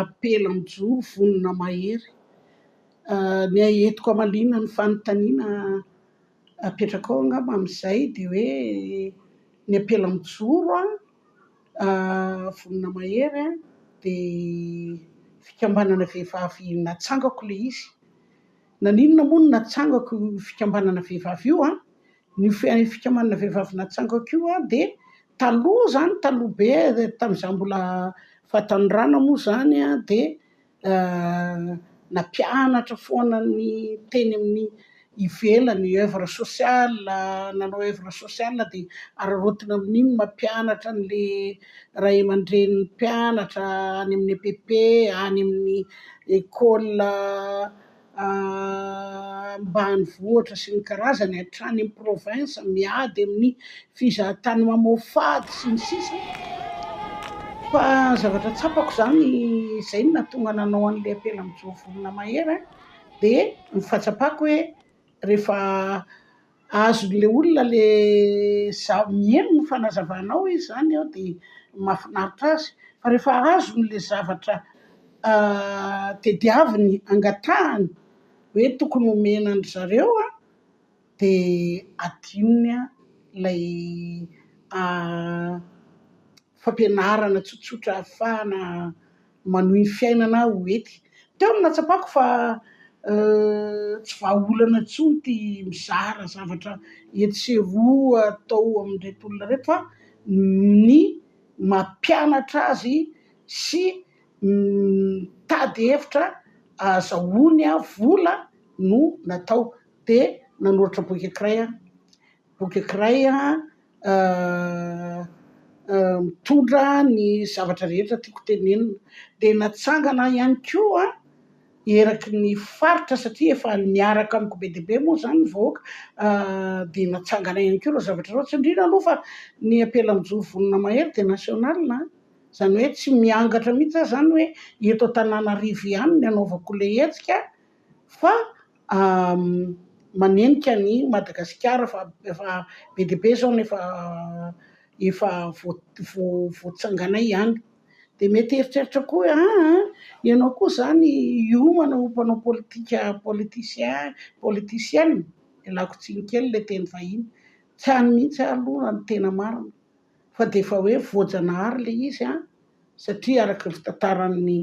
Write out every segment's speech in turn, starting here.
Apela mijoro vonona mahery. Ny ahy eto koa mahaliana ny fanontaniana apetrakao angamba amin'izay dia hoe ny apela mijoro vonona mahery dia fikambanana vehivavy natsangako ilay izy. Naninona moa no natsangako io fikambanana vehivavy io an? Io fikambanana vehivavy natsangako io an dia taloha izany, taloha be tamin'izaho mbola fahatanorana moa izany an dia nampianatra foana ny teny amin'ny ivelany, oeuvre sociale, nanao oeuvre sociale dia araraotina amin'iny ny mampianatra an'ilay ray aman-drenin'ny mpianatra any amin'ny EPP, any amin'ny école. ambanivohitra sy ny karazany hatrany amin'ny province miady amin'ny fizahan-tany mamoafady sy ny sisa fa zavatra tsapako izany izay no nahatonga nanao an'ilay apela mijoa vorona mahery dia ny fahatsapako hoe rehefa azon'le olona le zaho miheno ny fanazavanao izy zany an de mahafinaritra azy fa rehefa azony le zavatra tadiaviny angatahany hoe tokony homena an-dry zareo an de adinony an ilay fampianarana tsotsotra ahafahana manohy ny fiainana aho ety. Teo no nahatsapako fa tsy vahaolana intsony ity mizara zavatra etsy sy eroa atao amin'ireto olona ireto fa ny mampianatra azy sy mitady hevitra ahazahoany vola no natao, dia nanoratra boky ankiray aho. Boky ankiray mitondra ny zavatra rehetra tiako tenenina. Dia natsangana ahy ihany koa eraky ny faritra satria efa niaraka amiko be dia be moa izany ny vahoaka dia natsangana ahy ihany koa ireo zavatra ireo. Tsindriana aloha fa ny ampelamonjono vonona mahery dia national a! Izany hoe tsy miangatra mihitsy aho izany hoe eto Antananarivo ihany no anaovako ilay hetsika. fa manenika an'i Madagasikara fa efa be dia be izao no efa efa voatsanganay ihany. Dia mety hieritreritra koa hoe aa ianao koa izany hiomana ho mpanao politika politicien politicienne, ialako tsiny kely ilay teny vahiny, tsy any mihitsy aho aloha raha ny tena marina fa dia efa hoe voajanahary ilay izy an! satria araka ny fitantaran'ny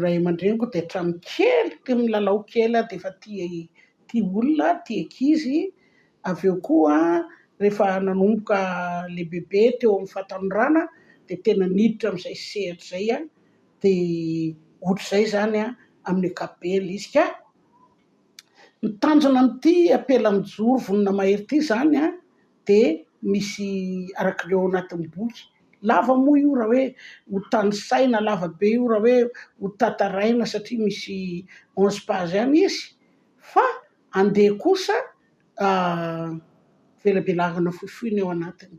ray aman-dreniko dia hatramin'ny kely tia milalao kely aho dia efa tia tia olona aho, tia ankizy, avy eo koa rehefa nanomboka lehibebe teo amin'ny fahatanorana dia tena niditra amin'izay sehatra izay aho dia ohatr'izay izany amin'ny ankapobeny ilay izy ka ny tanjona amin'ity ampela mijoro vonona mahery ity izany an! dia misy araka ny ao anatin'ny boky. Lava moa io raha hoe ho tanisaina, lava be io raha hoe ho tantaraina satria misy onze page ihany izy fa andeha kosa velabelarana fohifohy ny ao anatiny.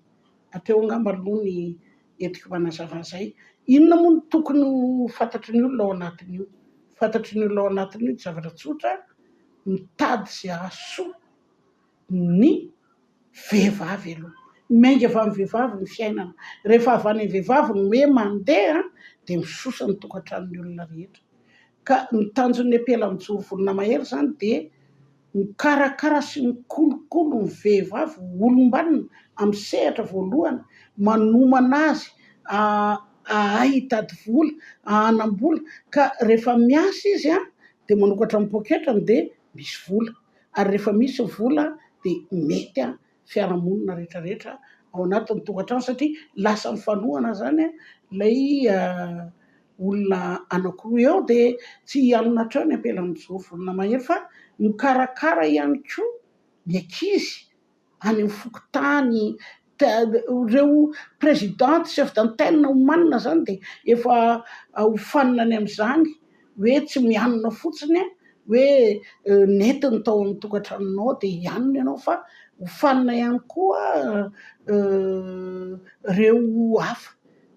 Hatreo angamba aloha ny entiko manazava an'izay. Inona moa no tokony ho fantatry ny olona ao anatin'io? Fantatry ny olona ao anatin'io dia zavatra tsotra, mitady izay hahasoa. ny vehivavy aloha, miainga avy amin'ny vehivavy ny fiainana, rehefa avy any amin'ny vehivavy ny hoe mandeha dia misosa ny tokantranon'ny olona rehetra, ka ny tanjon'ny apela mijoro volona mahery izany dia mikarakara sy mikolokolo ny vehivavy ho olom-banona amin'ny sehatra voalohany, manomana azy hahay hitady vola, hanam-bola, ka rehefa miasa izy dia manokatra ny poketrany dia. misy vola ary rehefa misy vola dia mety an fiarahamonina rehetra rehetra ao anatin'ny tokantrano satria lasa mifanohana izany an ilay olona anakiroa eo dia tsy hialona hatreo ny ampelan'izao volana mahery fa mikarakara ihany koa ny ankizy any amin'ny fokontany, ireo président chef d'antenne omanina izany dia efa hofanina any amin'izany hoe tsy mianona fotsiny hoe nentiny tao amin'ny tokantranonao dia hianona ianao fa hofanina ihany koa ireo hafa.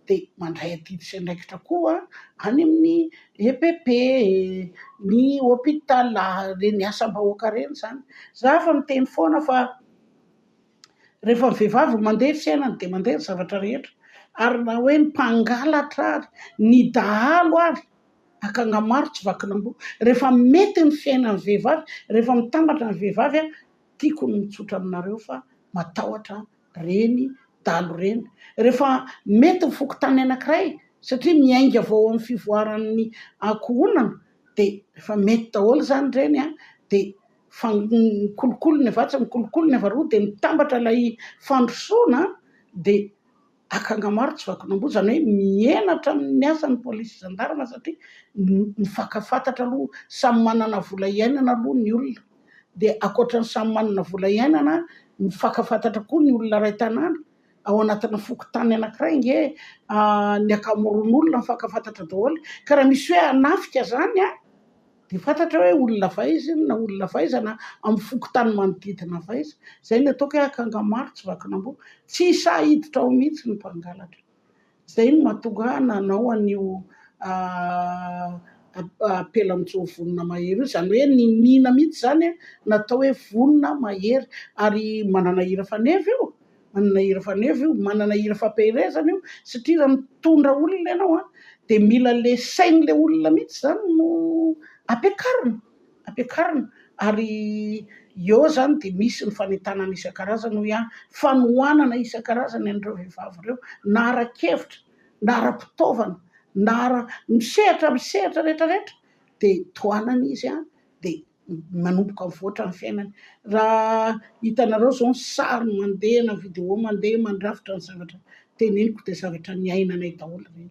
dia mandray adidy sy andraikitra koa any amin'ny EPP, ny hôpital, ireny asam-bahoaka ireny izany. Izaho efa miteny foana fa rehefa ny vehivavy no mandeha ny fiainany dia mandeha ny zavatra rehetra ary na hoe ny mpangalatra ary ny dahalo ary, akanga maro tsy vakin'amboa, rehefa mety ny fiainan'ny vehivavy, rehefa mitambatra ny vehivavy, tiako ny mitsotra aminareo fa matahotra reny, dalo reny. Rehefa mety ny fokontany anankiray, satria miainga avy ao amin'ny fivoaran'ny ankohonana, dia rehefa mety daholo izany ireny an, dia mikolokolo ny avy atsy, mikolokolo ny avy aroa, dia mitambatra ilay fandrosoana an, dia akanga maro tsy vakin'amboa, izany hoe mihenatra amin'ny asa ny polisy sy zandarma satria mifankafatatra aloha, samy manana vola hiainana aloha ny olona. dia ankoatra ny samy manana vola iainana ny faka fantatra koa ny olona iray tanàna ao anatina fokontany anankiray ange ny ankamoron'olona faka fantatra daholo ka raha misy hoe hanafika zany a dia fantatra hoe olona avy aiza iny na olona avy aiza na amin'ny fokontany manodidina avy aiza, zay no ataoko hoe akanga maro tsy vakin'amboa, tsy sahy hiditra ao mihitsy ny mpangalatra. Izay no mahatonga ahy nanao an'io apelan-jo vonona mahery io. Izany hoe niniana mihitsy izany natao hoe vonona mahery. Ary manana hira faneva io, manana hira faneva io, manana hira fampiherezana io, satria raha mitondra olona ianao dia mila le sain'ilay olona mihitsy izany no ampiakarina. ampiakarina ary eo izany dia misy ny fanentanana isan-karazany hoy aho, fanohanana isan-karazany an'ireo vehivavy ireo na ara-kevitra na ara-pitaovana na ara- amin'ny sehatra amin'ny sehatra rehetra rehetra dia tohanana izy dia manomboka mivoatra ny fiainany, raha hitanareo izao ny sary mandeha na vidéo mandeha mandrafitra ny zavatra teneniko dia zavatra niainanay daholo ireny.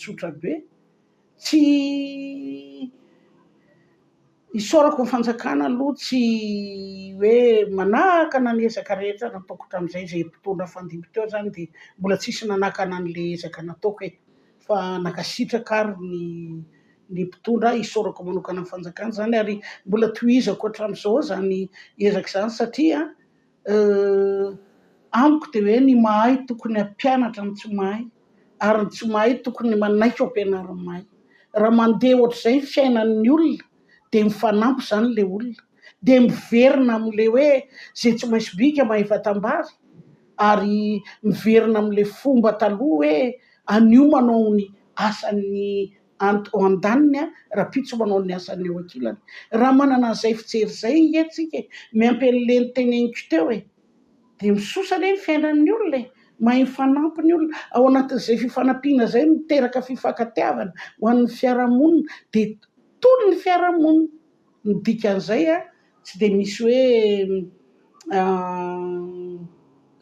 tsotra be, tsy isaorako ny fanjakana aloha tsy hoe manakana ny ezaka rehetra nataoko hatramin'izay, izay mpitondra fandimby teo zany dia mbola tsisy nanakana an'le ezaka nataoko e! fa nankasitraka ary ny ny mpitondra, isaorako manokana ny fanjakana zany ary mbola tohizako hatramin'izao zany ezaka zany satria. Euh. Amiko dia hoe ny mahay tokony hampianatra ny tsy mahay ary ny tsy mahay tokony manaiky ho ampianarin'ny mahay. Raha mandeha ohatr'izay ny fiainan'ny olona dia mifanampy izany ilay olona, dia miverina amin'ilay hoe izay tsy maintsy bika mahefa tambary ary miverina amin'ilay fomba taloha hoe anio manao ny asan'ny. Ant ao andaniny a, rapitso manao ny asany eo ankilany. Raha manana an'izay fijery izay nge tsika e, miampy an'le niteneniko teo e. Dia misosa anie ny fiainan'ny olona e, mahay mifanampy ny olona, ao anatin'izay fifanampiana izay no miteraka fifankatiavana ho an'ny fiarahamonina, dia tony ny fiarahamonina. Ny dikan'izay a, tsy dia misy hoe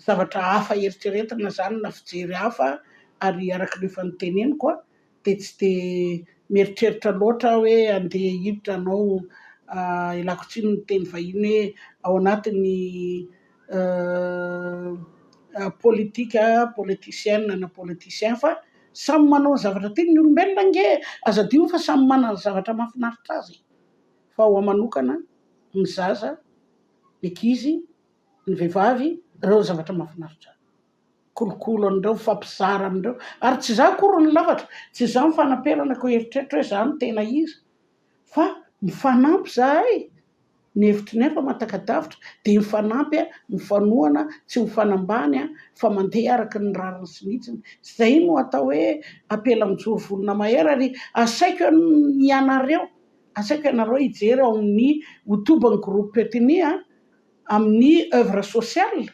zavatra hafa eritreretina izany na fijery hafa ary araka ny efa niteneniko a, dia tsy dia mieritreritra loatra aho hoe handeha hiditra hanao ialako tsiny ny teny vahiny hoe ao anatin'ny politika, politicienne na politicien fa samy manao ny zavatra tiany ny olombelona ange e! Aza adino fa samy manana ny zavatra mahafinaritra azy fa ho ahy manokana ny zaza, ny ankizy, ny vehivavy ireo no zavatra mahafinaritra ahy. kolokolo an'ireo, mifampizara amin'ireo, ary tsy izaho akory no lafatra, tsy izaho ny fanamperana koa eritreritro hoe izaho no tena iza, fa mifanampy izahay, ny hevitry ny hafa matakadavitra dia mifanampy, mifanohana, tsy ho mifanambany fa mandeha araka ny rariny sy ny hitsiny, izay no atao hoe apela mijoro vonona mahery, ary asaiko ianareo, asaiko ianareo hijery ao amin'ny hotoban'ny groupe Petini amin'ny oeuvre sociale,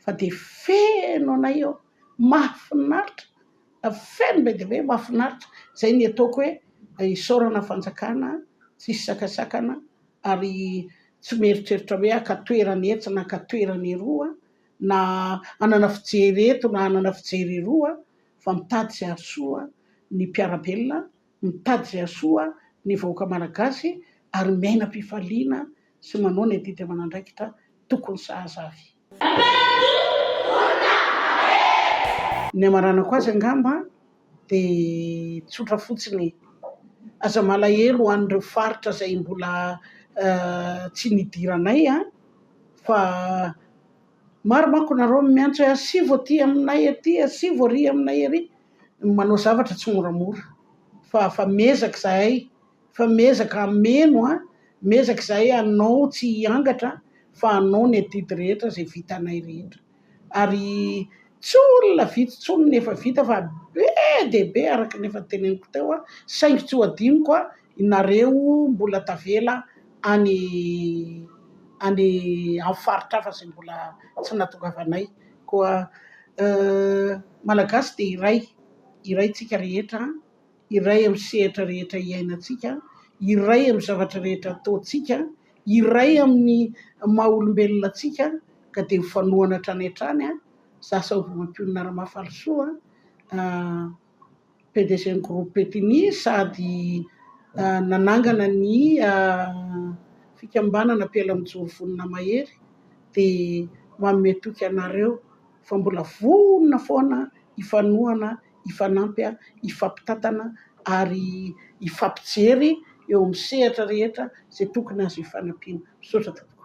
fa dia feno anay eo, mahafinaritra, feno be dia be, mahafinaritra, izay ny ataoko hoe isaorana ny fanjakana tsisy sakasakana ary tsy mieritreritra hoe haka toerana etsy na haka toerana eroa na hanana fijery eto na hanana fijery eroa fa mitady izay hahasoa ny mpiara-belona Mitady izay hahasoa ny vahoaka Malagasy ary miaina am-pifaliana sy manao ny adidy aman'andraikitra tokony sahaza avy. Ny hamaranako azy angamba dia tsotra fotsiny e! Aza malahelo ho an'ireo faritra izay mbola tsy nidiranay an! Fa maro manko nareo no miantso hoe asivo aty aminay aty, asivo ary aminay ary. ny manao zavatra tsy moramora fa fa miezaka izahay fa miezaka hameno a miezaka izahay hanao tsy hiangatra fa hanao ny adidy rehetra izay vitanay rehetra ary tsy olona vitsy intsony ny efa vita fa be dia be araka ny efa teneniko teo aho saingy tsy ho adinoko aho Nareo mbola tavela any any amin'ny faritra hafa izay mbola tsy nahatongavanay koa Malagasy dia iray, iray tsika rehetra, iray amin'ny sehatra rehetra iainantsika, iray amin'ny zavatra rehetra ataontsika, iray amin'ny maha olombelona antsika ka dia mifanohana hatrany hatrany an! Za Sauvy Mampionona Ramafalisoa an! PDG-n'ny Groupe Petini sady nanangana ny fikambanana Ampela Mijoro Vonona Mahery dia manome toky anareo fa mbola vonona foana hifanohana, hifanampy, hifampitantana ary hifampijery eo amin'ny sehatra rehetra izay tokony azo hifanampiana. Misaotra tompoko.